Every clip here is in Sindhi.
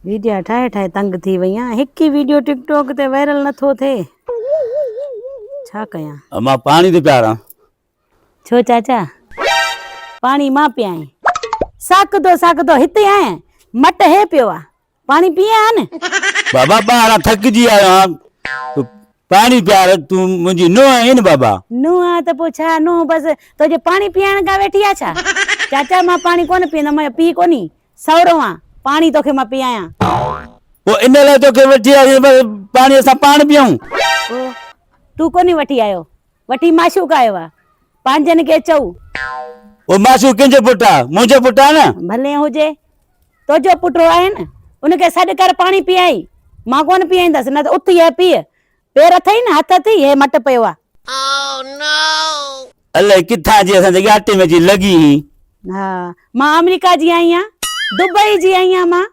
ويڊيا ٺاهي ٺاهي تنگ ٿي وئيان هڪ ئي ويڊيو ٽڪ ٽوڪ تي وائرل نٿو ٿئي ڇا ڪيان. مان پاڻي ٿو پياران. ڇو چاچا پاڻي مان پيائين. ساڪدو ساڪدو هتي آهين مٽ هي پيو آ پاڻي پيئين ها نه. بابا ٻاهران ٿڪجي آيو آهيان پاڻي پيار تون منهنجي نونهن آهين نه بابا. نونهن ته پوء ڇا نونهن بس توجي پاڻي پيارڻ ڪا ويٺي آ ڇا چاچا مان پاڻي ڪونه پيئندم مان پيئي ڪونهي سو روئان، پاڻي توکي مان پيايان. پوء ان لاء توکي وٺي آياسين پر پاڻي اسان پاڻ پيئون. پوء تون ڪونهي وٺي آيو، وٺي معشوق آيو آ، پنهنجن کي چئو. پوء معشوق ڪنهن جو پٽ آ، منهنجو پٽ آ نه. ڀلي هجي، تنهنجو پٽ آهي نه، ان کي سڏ ڪر پاڻي پيائين، مان ڪونه پيائيندس، نه ته اٿ هي پيء، پير اٿئي نه هٿ اٿئي هي مٽ پيو آ. الائي ڪٿان جي اسان جي ڳاٽي ۾ اچي لڳي هين. ها مان آمريڪا جي آئي آن دبئي جي آئي آن مان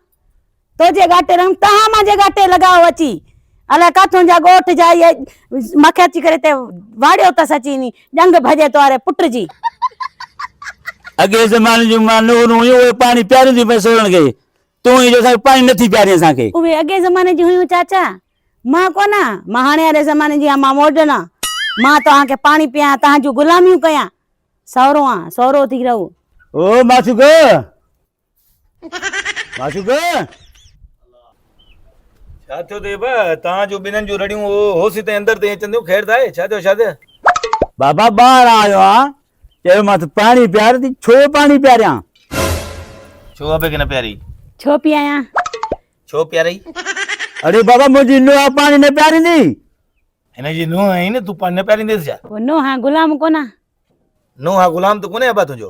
تو جي ڳاٽي لڳم تهان مان جي ڳاٽي لڳاو اچي الائي ڪاٿون جا ڳوٺ جا اهي مکي اچي ڪري تي واڙيو تس اچي ني ڄنگ ڀڄي تواري پٽ جي. اڳئي زماني جون مان نورون هيون اهي پاڻي پيارينديون پئي سورن کي. تون هي جو اسان کي پاڻي نٿي پيارين اسان کي. اهي اڳئين زماني جون هيون چاچا. مان ڪونه آهيان. مان هاڻي واري زماني جي آهيان. مان ماڊرن آهيان. مان توهان کي پاڻي پياريان. توهان جون غلاميون ڪيان. سهرو آهيان. سهرو ٿي رهو. او معشوقه! معشوقه! ڇا ٿيو اٿئي بابا؟ توهان جون ٻنهن جون رڙيون هوس تائين اندر تائين اچنديون. خير ته آهي. ڇا ٿيو شاهده؟ بابا ٻاهران آيو آهيان. چيومانس پاڻي پيار ٿي ڇو پاڻي پياريان. ڇو ابي کي نه پياري. ڇو پيايان. ڇو پياري. اڙي بابا منهنجي نوحه پاڻي نه پياريندي. هن جي نوحه آهين نه تون پاڻي نه پيارينديس ڇا. پوء نوحه غلام ڪونه. نوحه غلام ته ڪونهي ابا تنهنجو.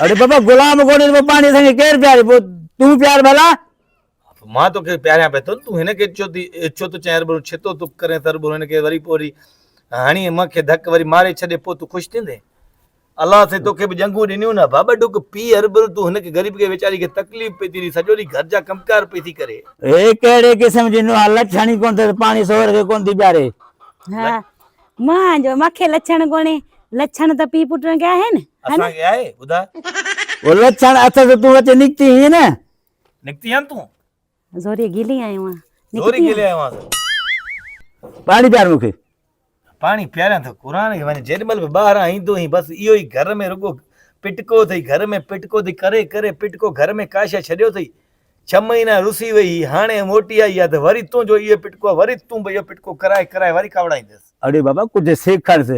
اڙي بابا غلام ڪونهي ته پوء پاڻي اسان کي ڪير پياري پوء تون پيار ڀلا. مان توکي پياريان پئي ٿو نه تون هن کي ڇو ٿي ڇو ٿو چئين ربرون ڇتو ٿو ڪرين ٿا ربرون هن کي وري پوء وري هڻي مئن کي ڌڪ وري ماري ڇڏي پوء تون خوش ٿيندين الله سائين توکي به ڄنگهون ڏنيون نه ڀا ٻه ڍڪ پي ربرون تون هن کي غريب کي ويچاري کي تڪليف پئي ٿي ڏي سڄو ڏينهن گهر جا ڪمڪار پئي ٿي ڪري هي ڪهڙي قسم جي نوحه لڇ هڻي ڪونه ٿي پاڻي سوهر کي ڪونه ٿي پياري. ها مان جو مکي لڇڻ ڪونهي لڇڻ ته پي پٽن کي آهن اسان کي آهي ٻڌاء. هو لڇڻ اٿس تون اچي نڪتي هئين نه نڪتي آن تون زوري گيلي آيو آن زوري گيلي آيو آن پاڻي پيار مون کي پاڻي پياريان ٿو قرآن کي وڃ جيڏي مهل به ٻاهران ايندو هين بس اهو ئي گهر ۾ رڳو پٽڪو اٿئي گهر ۾ پٽڪو اٿئي ڪري ڪري پٽڪو گهر ۾ ڪا شيء ڇڏيو اٿئي ڇهه مهينا رسي وئي هئي هاڻي موٽي آئي آ ته وري تنهنجو اهو پٽڪو آ وري تون به اهو پٽڪو ڪرائي ڪرائي وري ڪاوڙائينديس اڙي بابا ڪجهه سيکارس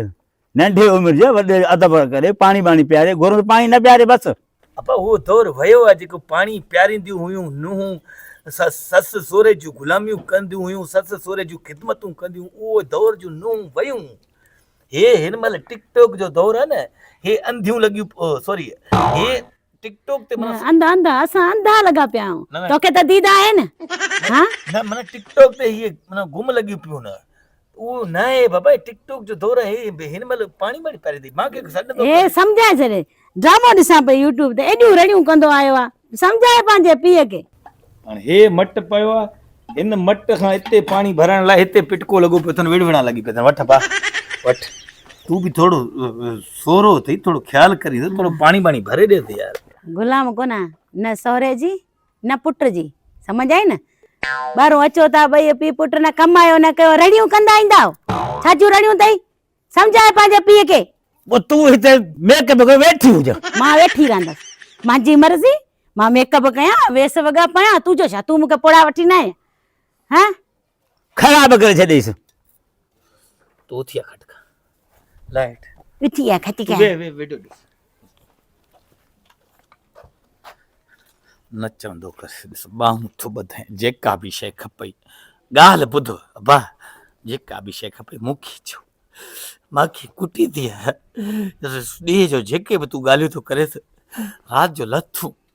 ننڍي عمر جي وڏي ادب ڪري پاڻي ٻاڻي پياري گهرون ته پاڻي نه پياري بس. اپا اهو دور ويو آهي جيڪو پاڻي پيارينديون هيون نونهون سس سهري جون غلاميون ڪنديون هيون سس سهري جون خدمتون ڪنديون اهو دور جون نونهون ويون هي هن مهل ٽڪ ٽوڪ جو دور آهي نه هي انڌيون لڳيون سوري هي ٽڪ ٽوڪ تي منا انڌا انڌا اسان انڌا لڳا پيا آهيون توکي ته ديد آهي نه ها نه منا ٽڪ ٽوڪ تي هي منا گم لڳيون پيون نه اهو نه آهي بابا هي ٽڪ ٽوڪ جو دور آهي هي هن مهل پاڻي مڙي پري ٿي مان کي سڏ نٿو هي ڪري سمجهائي ڇڏي ڊرامو ڏسان پئي يوٽيوب تي ايڏيون رڙيون ڪندو آيو آ سمجهائي پنهنجي پيء کي. هاڻي هي مٽ پيو آ هن مٽ کان اتي پاڻي ڀرڻ لاء هتي پٽڪو لڳو پيو اٿن وڙوڙا لڳي پيا اٿن وٺ با وٺ تون به ٿورو سورو اٿئي ٿورو خيال ڪرين ٿورو پاڻي ٻاڻي ڀري ڏي ته يار. غلام ڪونه نه سهري جي نه پٽ جي سمجهه آئي نه ٻاهرون اچو ٿا ٻئي پي پٽ نه ڪمايو نه ڪيو رڙيون ڪندا ايندا ڇا جون رڙيون اٿئي سمجهاء پنهنجي پيء کي پوء تون هتي ميڪ اپ ڪري ويٺي هج مان ويٺي رهندس منهنجي مرضي مان ميڪ اپ ڪيان ويس وڳا پايان تنهنجو ڇا تون مون کي پوڙها وٺي نه آئين ها خراب ڪري ڇڏيس. تو اٿي آ کٽ کان لائيٽ اٿي آ کٽ کان وي وي ويڊيو ڏس نچندو ڪس ڏس ٻانهون ٿو ٻڌين جيڪا به شي کپئي ڳالهه ٻڌ با جيڪا به شي کپئي مونکي چو ماکي ڪٽي دي ڏينهن جو جيڪي به تون ڳالهيون ٿو ڪريس رات جو لٿون